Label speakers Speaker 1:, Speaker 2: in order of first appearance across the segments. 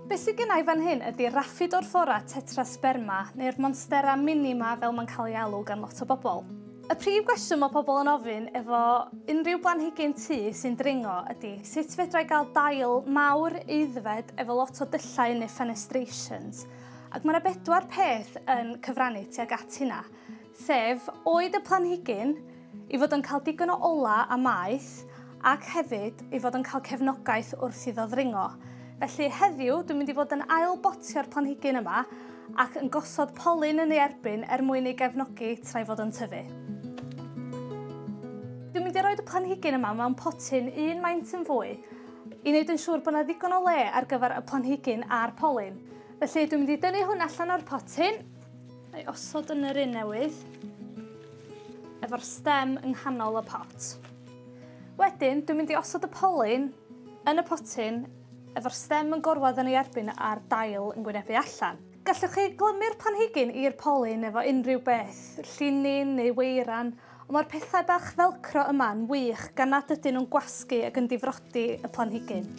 Speaker 1: Be sy gynna i fan hyn ydi Rhaphidophora tetrasperma, neu'r monstera mini 'ma fel mae'n cael ei alw gan lot o bobl. Y prif gwestiwn mae pobl yn ofyn efo unrhyw blanhigyn tŷ sy'n dringo ydi sut fedra i gael dail mawr aeddfed efo lot o dyllau neu fenestrations? Ac mae yna bedwar peth yn cyfrannu tuag at hynna. sef oed y planhigyn, ei fod yn cael digon o ola a maeth, ac hefyd ei fod yn cael cefnogaeth wrth iddo ddringo. Felly heddiw dwi'n mynd i fod yn ail botio'r planhigyn yma ac yn gosod polyn yn ei erbyn er mwyn ei gefnogi tra'i fod yn tyfu. Dwi'n mynd i roed y planhigyn yma mewn potyn un maint yn fwy i wneud yn siŵr bod yna ddigon o le ar gyfer y planhigyn a'r polyn. Felly dwi'n mynd i dynnu hwn allan o'r potyn A'i osod yn yr un newydd, efo'r stem yng nghanol y pot. Wedyn, dwi'n mynd i osod y polyn yn y potyn efo'r stem yn gorwedd yn ei erbyn a'r dail yn gwynebu allan. Gallwch chi glymu'r planhigyn i'r polyn efo unrhyw beth, llinyn neu weiran, Ond mae'r pethau bach felcro yma'n wych gan nad ydyn nhw'n gwasgu ac yn difrodi y planhigyn.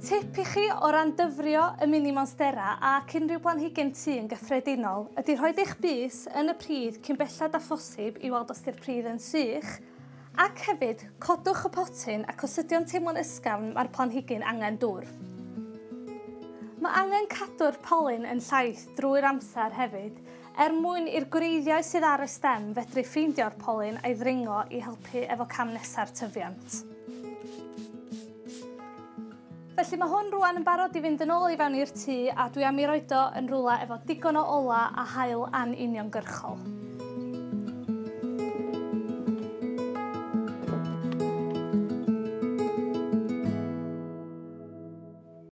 Speaker 1: Tip i chi o ran dyfrio y mini monstera ac unrhyw blanhigyn tu yn gyffredinol ydy rhoi eich bys yn y pridd cyn belled â phosib i weld os ydy'r pridd yn sych, Ac hefyd, codwch y potyn ac os ydy o'n teimlo'n ysgafn, mae'r planhigyn angen dŵr. Mae angen cadw'r polyn yn llaith drwy'r amser hefyd, er mwyn i'r gwreiddiau sydd ar y stem fedru ffeindio'r polyn a'i ddringo i helpu efo cam nesa'r tyfiant. Felly mae hwn rwan yn barod i fynd yn ôl i fewn i'r tŷ a dwi am i roed o yn rhywle efo digon o ola a haul an uniongyrchol.